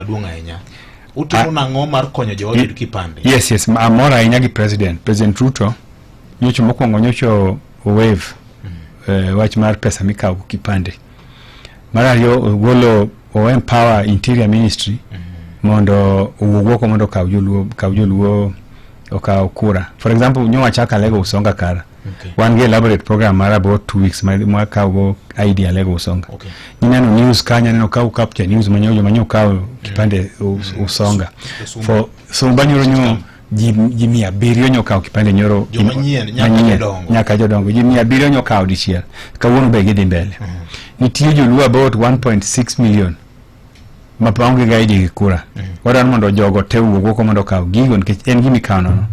maduong' ahinya utimo ah. nang'o mar konyo joote yudo kipande yes yes amor ahinya gi president president ruto nyocho mokwongo nyocho wave mm. eh, wach mar pesa mikawo kipande mar ariyo ogolo o empower interior ministry mm. mondo owuog oko mondo okaw joluo okaw joluo okaw kura for example nyo wachaka lego usonga kara Okay. wan gi elaborate program mar about two weeks ma ma kawogo idea lego usonga Okay. ineno news kanya neno ka ukapcha news manyo joma nyo kawo kipande us- usonga Usumba. for so banyoro nyo ji ji mia abiriyo nyo kawo kipande nyoro Joma in- nyien, nyaka manyien, jodongo. nyaka jodongo ji mia abiriyo nyo kawo dichiel kawuono be gidhi mbele nitie joluo about 1.6 million ma pa onge ga iji gi kura wadwaro mondo jogo te wuog oko mondo okaw gigo nikech en gima ikawo nono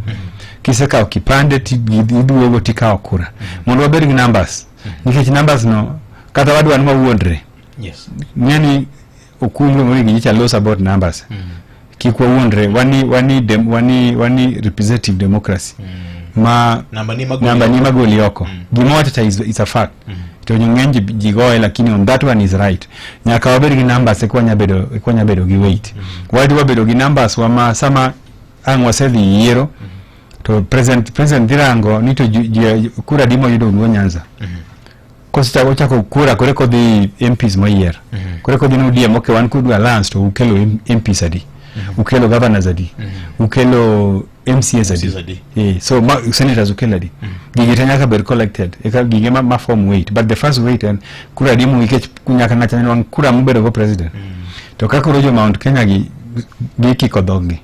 kisekawo kipande ti- gi- iduogo tikawo kura mondo wabed gi numbers nikech numbers no kata wadwa ni wawuondre Yes. ng'eni okumbro mori gi just a loss about numbers kik wawuondre wani wani dem, wani wani representative democracy mm. ma namba ni magoli, namba ni magoli oko mm. gima watata is, is a fact mm. to ng'eny ji goye lakini on that one is right nyaka wabed gi numbers eka wanya bedo eka wanya bedo gi weight mm. wadi wabedo gi numbers wa ma sama ang' wasedhi yiero mm. to president president dhirango ni to kura dimo yudo go nyanza mm. kosechako ochako kura kore kodhi MPs moyier kore kodhi ni ODM okay wan kudu alliance to ukelo M- MPs adi ukelo governors adi ukelo MCAs MCAs adi adi. Eh, so ma, senators ukelo adi gigi te nyaka bed collected eka gige ma, ma form weight but the first weight en kura adi muikech nyaka ng'acha nwangi kura mubedo go president to ka koro jo Mount Kenya gi gikiko dhoggi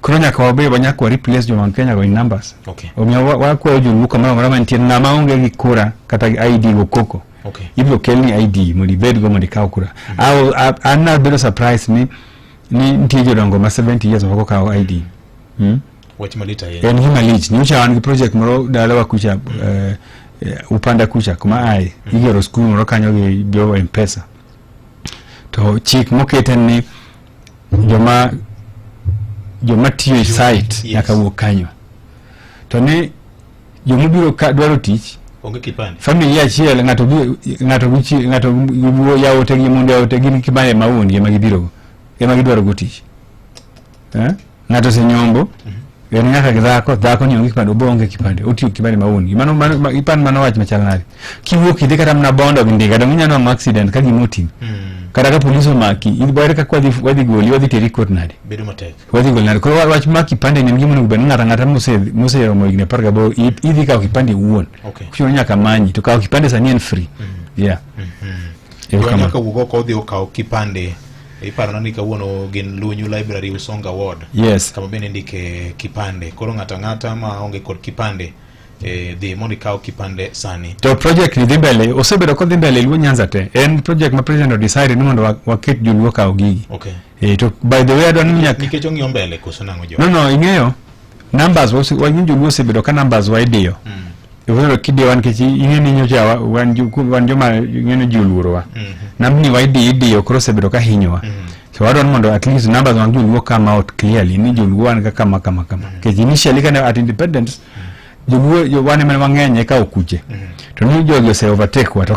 koro nyaka wabe wanyaka wa replace jo Mount Kenya go in numbers okay. omiyo wakwayo wa joluo kamoro amora mantie ng'ama onge gi kura kata ID go koko okay. ibiro kelni ID mondo ibedgo mondo ikaw kura mm -hmm. an nabedo surprise ni ni nitie jodongo ma 70 years moko kawo ID hmm? wach malit ahinya en gima lich nyocha wan gi project moro dalawa kucha mm -hmm. uh, upanda kucha kuma aye mm -hmm. igero skul moro kanyo gi jo mpesa to chik mokete ni joma joma tiyo e site yes. nyaka wuok kanyo to ni joma biro dwaro tich onge kipande family achiel ngato ngato guchi ngato giwo yawote gi mondo yawote gin kipande ma wuon gi ma gibiro go ema gidwaro go tich eh Ng'ato senyombo mhm. en nyaka gi dhako dhako ni onge kipande obonge kipande otiyo kipande mauni mano mano ipan mano wach machal nade kiwuok idhi kata mna bondo gi ndiga dong inyalo nwa accident ka gima oting mm. kata ka polis omaki idware kaka wadhi wadhi goli wadhi teri kot nade bedo matek wadhi goli nade koro wach ma kipande ni gima onego bed ng'ata ng'ata mose mose romo higni apar gaboro idhi kawo kipande wuon okay. kuchuno nyaka manyi to kawo kipande sani en free mm. yeah mm -hmm. Iwanyaka wugo kodhi ukaw kipande Iparona ni kawuono gin Lunyu Library Usonga Ward. Yes. Kama bende ndike kipande. Koro ng'ata ng'ata ma onge kod kipande eh, dhi mondo ikaw kipande sani. To project ni dhi mbele, osebedo kodhi mbele Luo Nyanza te. En project ma president odecide ni mondo waket joluo kaw gigi. Okay. Eh, to by the way adwa ni nyaka nikech ong'iyo mbele koso nang'o jo. No no, ing'eyo Numbers wose wanyun joluo osebedo ka numbers wa idiyo. Mm. Iwero kidiyo wan kechi ing'e ni nyocha wan wan joma ing'e ji oluoro wa. Mm -hmm. Nambni wa idiyo idiyo koro osebedo ka hinyowa. Mm -hmm. So I don't want to at least numbers want to work come out clearly. Ni joluo wan ka kama kama kama. Mm-hmm. Kechi initially kana at independence mm-hmm. joluo wan ema wang'eny eka okuche. Mm-hmm. To ni jogi ose overtake wa to